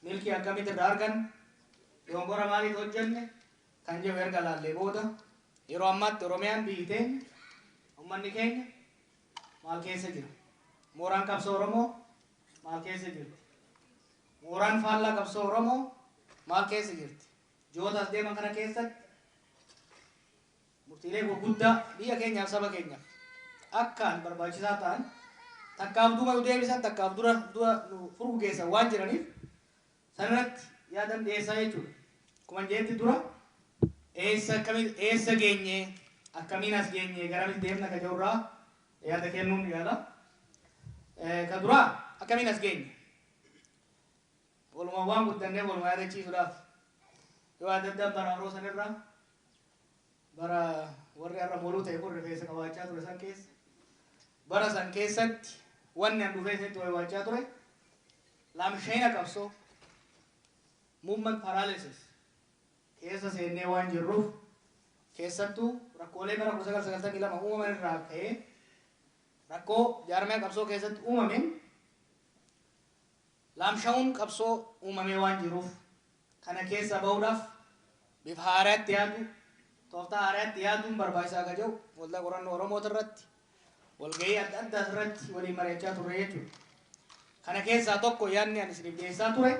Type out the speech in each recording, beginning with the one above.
Milkii akkamitti irraa arganne? Dogongora maaliitu hojjenne? kan jedhu erga ilaallee booda yeroo ammaatti Oromiyaan biyyi teenya, ummanni keenya maal keessa jira? Mooraan qabsoo Oromoo maal keessa jirti? Mooraan faallaa qabsoo Oromoo maal keessa jirti? Ji'oota as deeman kana keessatti murtiilee gurguddaa biyya keenyaaf saba keenyaaf akkaan barbaachisaa ta'an takkaaf duuba nu deebisan takkaaf dura dura nu furgugeessan waan jiraniif sanarratti yaadan dhiyeessaa jechuudha. Akkuman jedhetti dura eessa akkamitti eessa geenye akkamiin as geenye garamitti deemna ka jedhurraa yaada kennuun yaala. Ka duraa akkamiin as geenye walumaan waan guddannee walumaa yaadachiisuudhaaf yoo adda addaan bara haroo sanirraa Bara warri har'a moluu ta'e kun rifeensa qabaachaa ture san keessa bara san keessatti wanni an dhufee itti waywaachaa ture laamshayina qabsoo movement paralysis keessa seennee waan jirruuf keessattuu rakkoolee bara 1992 uumaman irraa ka'ee rakkoo jaarmee qabsoo keessatti uumameen Laamsha'uun qabsoo uumamee waan jiruuf kana keessaa bahuudhaaf bifa haaraatti yaaduu, tooftaa haaraatti yaaduun barbaachisaa akka jiru Waldaa Qorannoo Oromootirratti walgahii adda addaasirratti waliin mari'achaa turre jechuudha. Kana keessaa tokko yaadni ani isiniif dhiyeessaa ture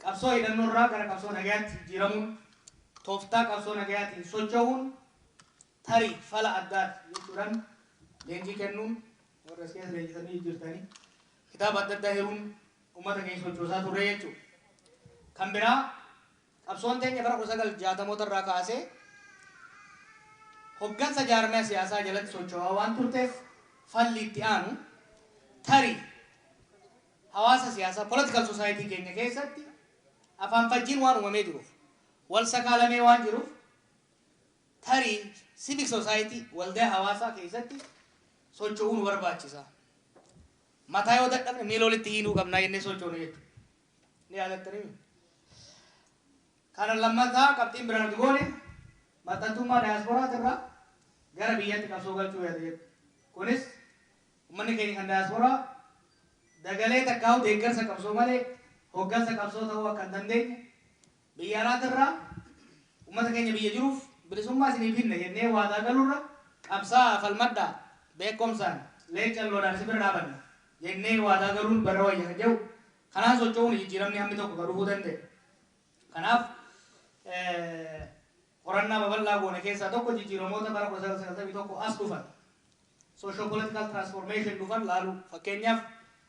qabsoo hidhannoorraa gara qabsoo nagayaatti jijjiiramuun tooftaa qabsoo nagayaatiin socho'uun tarii fala addaati jechuudhaan leenjii kennuun warra as keessa leenjisanii jirtanii Kitaaba adda addaa hiruun ummata keenya sochoosaa turre jechuudha. Kan biraa qabsoon teenya bara 1960moota irraa kaasee hoggansa jaarmaya siyaasaa jalatti sochoo'aa waan turteef falli itti aanu tarii hawaasa siyaasaa, political society, keenya keessatti afaanfajjiin waan uumamee jiruuf, wal sakaalamee waan jiruuf, Tarii civic society, waldaya hawaasaa, keessatti socho'uu nu barbaachisa. Mataa yoo dadhabne miila walitti hiinuu qabna jennee sochoone jechuudha. Ni yaadattanii miti? Kana lammataa qabxiin biraa nuti goone maxxantummaa daayasporaati irraa gara biyyatti qabsoo galchuu yaada jedhu. Kunis ummanni keenya kan daayasporaa dagalee takkaahuu deeggarsa qabsoo malee hoggansa qabsoo ta'uu akka hin dandeenye Biyya alaatti irraa ummata keenya biyya jiruuf bilisummaa isiniif hinna jennee waadaa galurra qabsaa'aa falmadhaa beekkomsaan leencan lolaan isin bira dhaabanna jennee waadaa galuun barra wayya kan jedhu kanaan socho'uuni jijjiiramni hammi tokko ka dhufuu danda'e. Kanaaf qorannaa babal'aa goone keessaa tokko jijjiiramoota bara 1991 as dhufan socio-political transformation dhufan laaluu. Fakkeenyaaf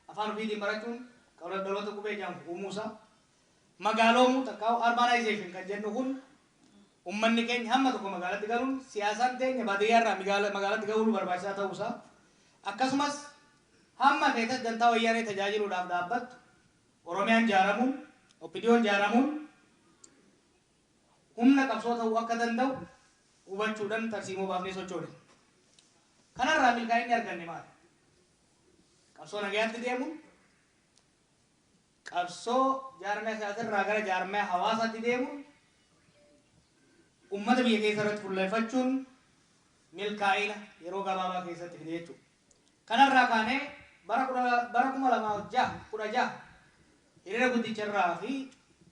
afaan ofiitiin barachuun dhaloota qubee jedhamu uumuusaa, magaaloomuu takkaahuu urbanization kan jennu kun ummanni keenya hamma tokko magaalatti galuun siyaasaan teenya baadiyyaa irraa migaala- magaalatti ga'uun barbaachisaa ta'uu isaa akkasumas hamma feetas dantaa wayyaanee tajaajiluudhaaf dhaabbattu Oromiyaan jaaramuun Oppidiyoon jaaramuun humna qabsoo ta'uu akka danda'u hubachuudhaan tarsiimoo baafnee sochoone. Kanarraa milkaa'inni arganne maali? Qabsoo nagayaatti deemuun Qabsoo jaarmaya siyaasaarraa gara jaarmaya hawaasaatti deemuun ummata biyya keessarratti fulleffachuun milkaa'ina yeroo gabaabaa keessatti fide jechuudha. Kanarraa kaanee bara 2006, 16 hiriira guddicharraa fi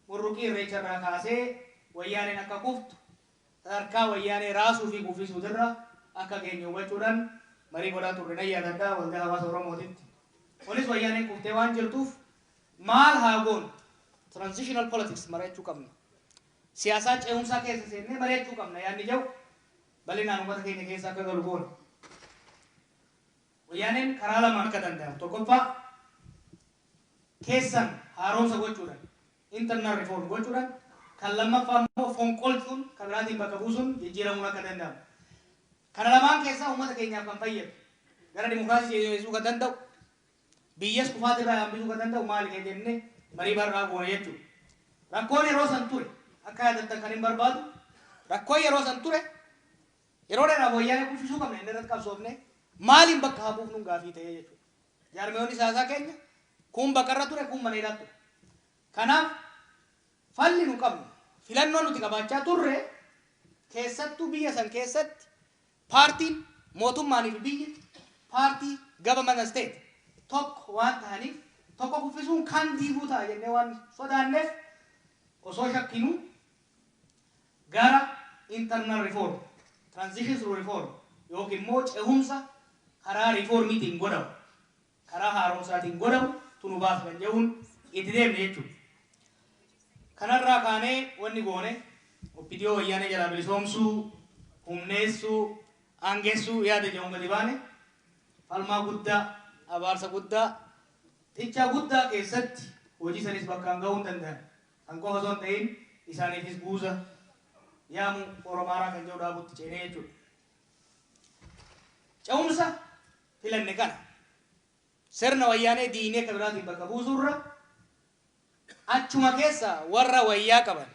Burruqii Irreecharraa kaasee Wayyaaneen akka kuftu sadarkaa wayyaanee raasuu fi kuffisuutirra akka geenye hubachuudhaan marii godhaa turre nan yaadadha, Waldaa Hawaasa Oromootitti. Kunis wayyaaneen kuftee waan jirtuuf maal haa goonu? Transitional politics mari'achuu qabna. Siyaasaa ce'umsaa keessa seennee mari'achuu qabna yaadni jedhu bal'inaan uummata keenya keessa akka galu goone. Wayyaaneen karaa lamaan akka danda'amu, tokkoffaa keessan haaromsa gochuudhaan internal reform, gochuudhaan kan lammaffaa immoo fonqolchuun kan biraatiin bakka buusuun jijjiiramuun akka danda'amu. Kana lamaan keessaa uummata keenyaaf kan fayyadu, gara dimokraasiitti ceesisuu kan danda'u, biyyas kufaatii irraa hambisuu kan danda'u maali kan jenne marii bal'aa goona jechuudha. Rakkoon yeroo san ture akka yaadattan kan hin barbaadu, rakkoon yeroo san ture yeroo dheeraaf wayyaanee kuffisuu qabna jennee irratti qabsoofnee maaliin bakka haa buufnuun gaafii ta'ee jechuudha. Jaarmiyoonni siyaasaa keenya kuun baqa irra ture, kuun mana hidhaa ture. Kanaaf falli nu qabnu, filannoo nuti qabaachaa turre keessattuu biyya san keessatti paartiin mootummaanii fi biyyi paartii, government state, tokko waan tahaniif tokko kuffisuun kaan diiguu ta'a jennee waan sodaanneef osoo shakkinuu gara internal reform, transition through reform, ykn immoo cehumsa karaa riifoormiitiin godhamu, karaa haaromsaatiin godhamu tu nu baasa kan jedhuun itti deemne jechuu dha. Kana irraa kaanee wanni goone Opdo Wayyaanee jalaa bilisoomsuu, humneessuu, aangessuu yaada jedhuun gadi baane. Falmaa guddaa, abaarsa guddaa, xichaa guddaa keessatti hojii sanis bakkaan gahuu hin danda'an. Kan qofa osoo hin ta'iin isaaniifis guuza yaamu Oromaaraa kan jedhu dhaabutti ceenee jechuudha. Ce'umsa filanne kana sirna wayyaanee diinee kan biraatiin bakka buusuurra achuma keessa warra wayyaa qaban,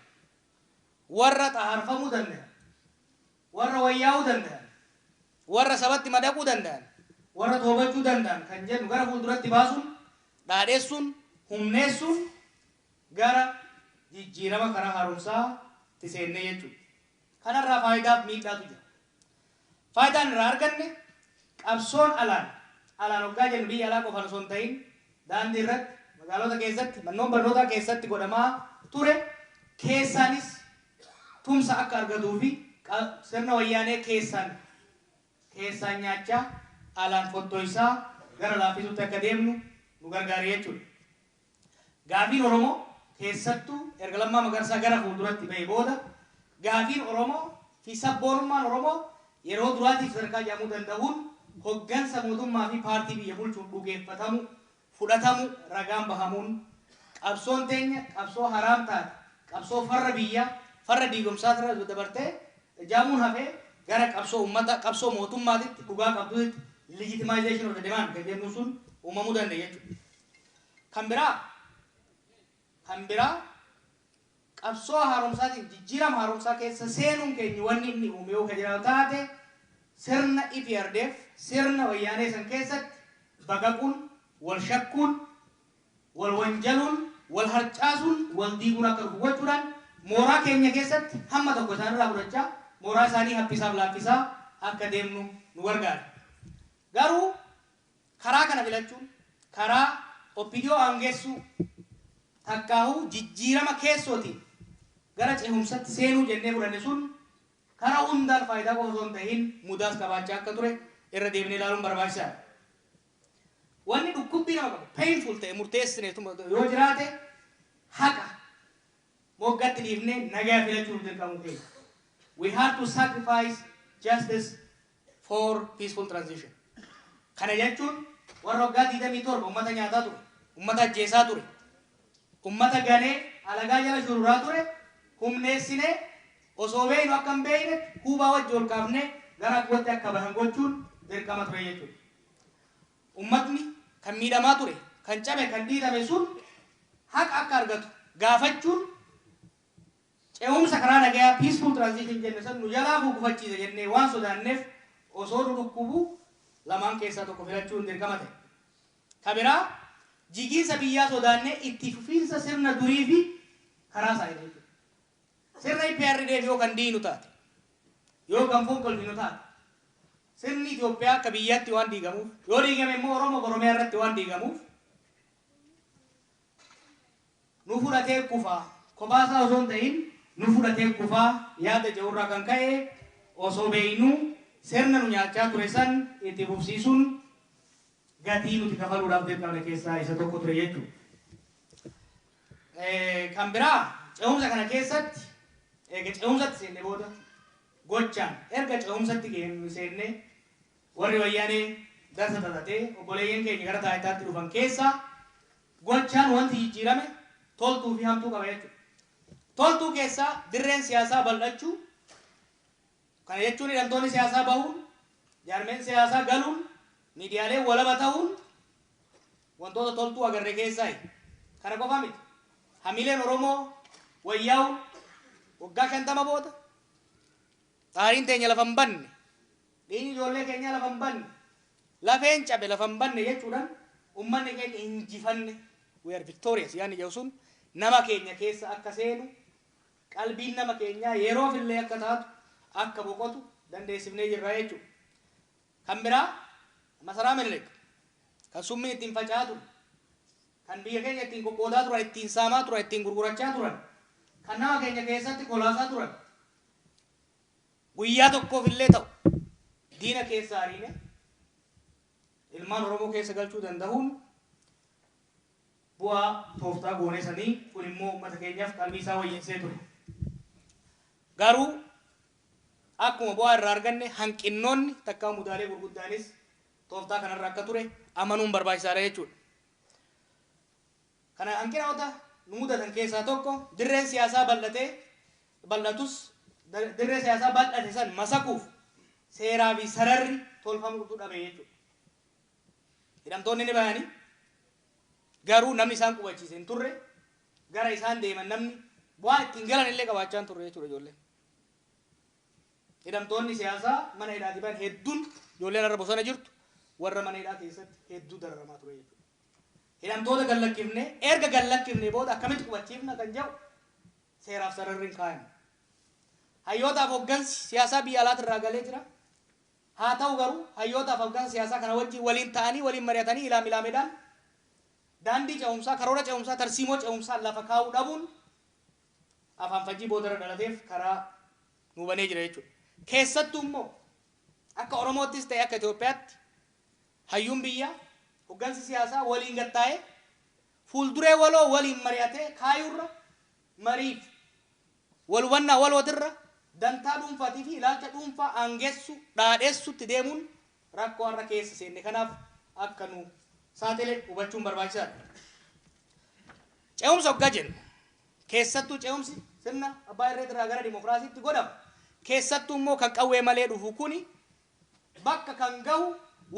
warra xahaarfamuu danda'an, warra wayyaa'uu danda'an, warra sabatti madaquu danda'an, warra toobachuu danda'an kan jennu gara fuulduratti baasuun, dhaadheessuun, humneessuun gara jijjiirama karaa haaromsaa tti seenne jechuu dha. Kana irraa faayidaa fi miidhaa tu jira. Faayidaan irraa arganne qabsoon alaan, alaan oggaa jennu biyya alaa qofaan osoo hin tahin daandii irratti, magaalota keessatti, mannoon barnootaa keessatti godhamaa ture keessaanis tumsa akka argatuu fi qa sirna wayyaanee keessaan, keessaan nyaachaa alaan fottoysaa gara laaffisuutti akka deemnu nu gargaare jechuu dha. Gaafiin Oromoo keessattuu erga Lammaa Magarsaa gara fuulduratti ba'ee booda gaafiin Oromoo fi sab-boonummaan Oromoo yeroo duraatiif sadarkaa jedhamuu danda'uun hoggansa mootummaa fi paartii biyya bulchuun dhugeeffatamuu, fudhatamuu, ragaan bahamuun qabsoon teenya qabsoo haraam taate, qabsoo farra biyyaa, farra diigomsaa irra dabartee jaamuun hafee gara qabsoo ummata, qabsoo mootummaatitti, dhugaa qabduutitti, legitimization of the demand kan jennuun sun uumamuu danda'e jechuudha. Kan biraa Kan biraa qabsoo haaromsaatiin jijjiirama haaromsaa keessa seenuun keenya wanni inni uume yoo ka jiraatu taate sirna eprdf, sirna wayyaanee san keessatti baqaquun, wal shakkuun, wal wanjaluun, wal harcaasuun, wal diiguun akka dhufu gochuudhaan mooraa keenya keessatti hamma tokko isaan irraa fudhachaa mooraa isaanii haphisaaf laaffisaa akka deemnu nu gargaare. Garuu. Karaa kana filachuun karaa opdo aangessuu takkaahuu jijjiirama keessootiin gara cehumsatti seenuu jennee fudhanne sun kara hundaan faayidaa qofa osoo hin tahiin mudaas qabaachaa akka ture irra deebinee ilaaluun barbaachisaa dha. Wanni dhukkubbii nama qabu, painful ta'e murteessine yoo jiraate haqa moggatti dhiifnee nagaya filachuuf dirqamuu keenya. We had to sacrifice justice for peaceful transition. Kana jechuun warra waggaa 27 uummata nyaataa ture, uummata ajjeesaa ture, uummata ganee alagaa jala shururaa ture humneessinee osoo beeknu akka hin beekne huubaa wajji ol kaafnee gara abbootti akka bahan gochuun dirqama ture jechuudha. Uummatni kan miidhamaa ture, kan cabe, kan dhiitame sun haqa akka argatu gaafachuun Ce'umsa karaa nagayaa, peaceful transition, jenne san nu jalaa kuu gufachiisa jennee waan sodaanneef osoo nu dhukkubu lamaan keessaa tokko filachuun dirqama ta'e. Ka biraa jigiinsa biyyaa sodaannee itti fufiinsa sirna durii fi karaa isaa eegna jechuudha. Sirna eprdf yoo kan diignu taate, yoo kan fonqolchinu taate, sirni Itoophiyaa akka biyyaatti waan diigamuuf, yoo diigame immoo Oromoof Oromiyaa irratti waan diigamuuf, nu fudhatee kufa, kophaa isaa osoo hin ta'iin nu fudhatee kufa yaada jedhu irraa kan ka'e osoo beeknuu sirna nu nyaachaa ture san itti fufsiisuun gatii nuti kafaluudhaaf dirqamne keessaa isa tokko ture jechuudha. Kan biraa ce'umsa kana keessatti eega ce'umsatti seenne booda gochaan erga ce'umsatti seennee Warri wayyanee darsa xaxatee obboleeyyan keenya gara taayitaatti dhufan keessaa gochaan wanti jijjiirame toltuu fi hamtuu qaba jechuudha. Toltuu keessaa dirreen siyaasaa bal'achuu, kana jechuun hidhamtoonni siyaasaa bahuun, jaarmeen siyaasaa galuun, miidiyaaleen walaba tahuun wantoota toltuu agarre keessaayi. Kana qofa miti. Hamileen Oromoo wayyaawuun waggaa 50 booda xaariin teenya lafa hin banne. Dhiigni ijoollee keenyaa lafa hin badne, lafeen cabe lafa hin badne jechuudhaan uummanni keenya injifanne, we are victorious, yaadni jedhu sun nama keenya keessa akka seenu, qalbiin nama keenyaa yeroof illee akka taatu, akka boqotu dandeessifnee jirra jechuudha. Kan biraa Masaraa Minilik kan summiin ittiin faca'aa ture, kan biyya keenya ittiin qoqqoodaa turan, ittiin saamaa turan, ittiin gurgurachaa turan, kan nama keenya keessatti kolaasaa turan, Guyyaa tokkoof illee ta'u diina keessaa ariine ilmaan Oromoo keessa galchuu dandahuun bu'aa tooftaa goonee sanii kun immoo ummata keenyaaf qalbii isaa wayyeessee ture. Garuu akkuma bu'aa irraa arganne hanqinnoonni takkaa mudaalee gurguddaanis tooftaa kanarra akka ture amanuun barbaachisaadha jechuudha. Kana hanqinaota nu mudatan keessaa tokko dirreen siyaasaa bal'atee bal'atus dirree siyaasaa bal'ate san masakuuf seeraa fi sararri tolfamu utuu dhabee jechuudha. Hidhamtoonni ni bahani garuu namni isaan qubachiise hin turre gara isaan deeman namni waan ittiin galan illee qabaachaa hin turre jechuudha ijoolleen. Hidhamtoonni siyaasaa mana hidhaati bahan hedduun ijoolleen har'a bosona jirtu warra mana hidhaa keessatti hedduu dararamaa ture jechuudha. Hidhamtoota gallakkifne, erga gallakkifnee booda akkamitti qubachiifna kan jedhu seeraaf sararri hin kaayamne. Hayyootaaf hoggansi siyaasaa biyya alaatirraa galee jira. Haa ta'u garuu hayyootaaf hoggansa siyaasaa kana wajjin waliin ta'anii, waliin mari'atanii ilaam ilaamedhaan daandii ce'umsaa, karoora ce'umsaa, tarsiimoo ce'umsaa lafa kaa'uu dhabuun afaanfajjii boodarra dhalateef karaa nuu banee jira jechuudha. Keessattuu immoo akka Oromoottis ta'e akka Itoophiyaatti Hayyuun biyyaa, hoggansi siyaasaa waliin gad taa'ee fuulduree waloo waliin mari'atee kaayuurra mariif walhubannaa walootirra dantaa dhuunfaatiifi ilaalcha dhuunfaa aangessu, dhaadhessutti deemuun rakkoo har'a keessa seenne kanaaf akka nu saaxile hubachuun barbaachisaadha. Ce'umsa ogga jennu, keessattuu ce'umsi sirna abbaa irreetirraa gara dimokiraasiitti godhamu, keessattuummoo kan qawwee malee dhufu kuni bakka kan gahu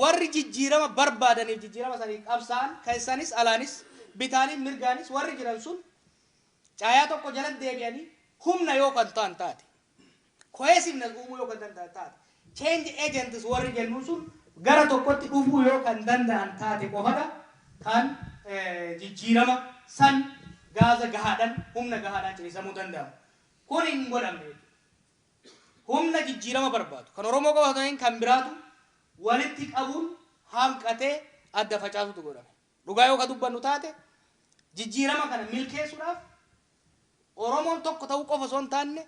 warri jijjiirama barbaadaniif jijjiirama saniif qabsaa'an keessanis alaanis bitaaniif mirgaanis warri jiran sun caayaa tokko jalatti deebi'anii humna yoo kan ta'an taate cohesiveness uumuu yoo kan danda'an taate change agents warri jennuun sun gara tokkotti dhufuu yoo kan danda'an taate qofadha kan jijjiirama san gaaza gahaadhan humna gahaadhaan ciniisamuu danda'amu kun hin godhamne humna jijjiirama barbaadu, kan Oromoo qofa osoo hin ta'iin kan biraatu walitti qabuun hanqatee adda facaasuutu godhame. Dhugaa yoo ka dubbannu taate jijjiirama kana milkeessuudhaaf Oromoon tokko ta'uu qofa osoo hin taanne,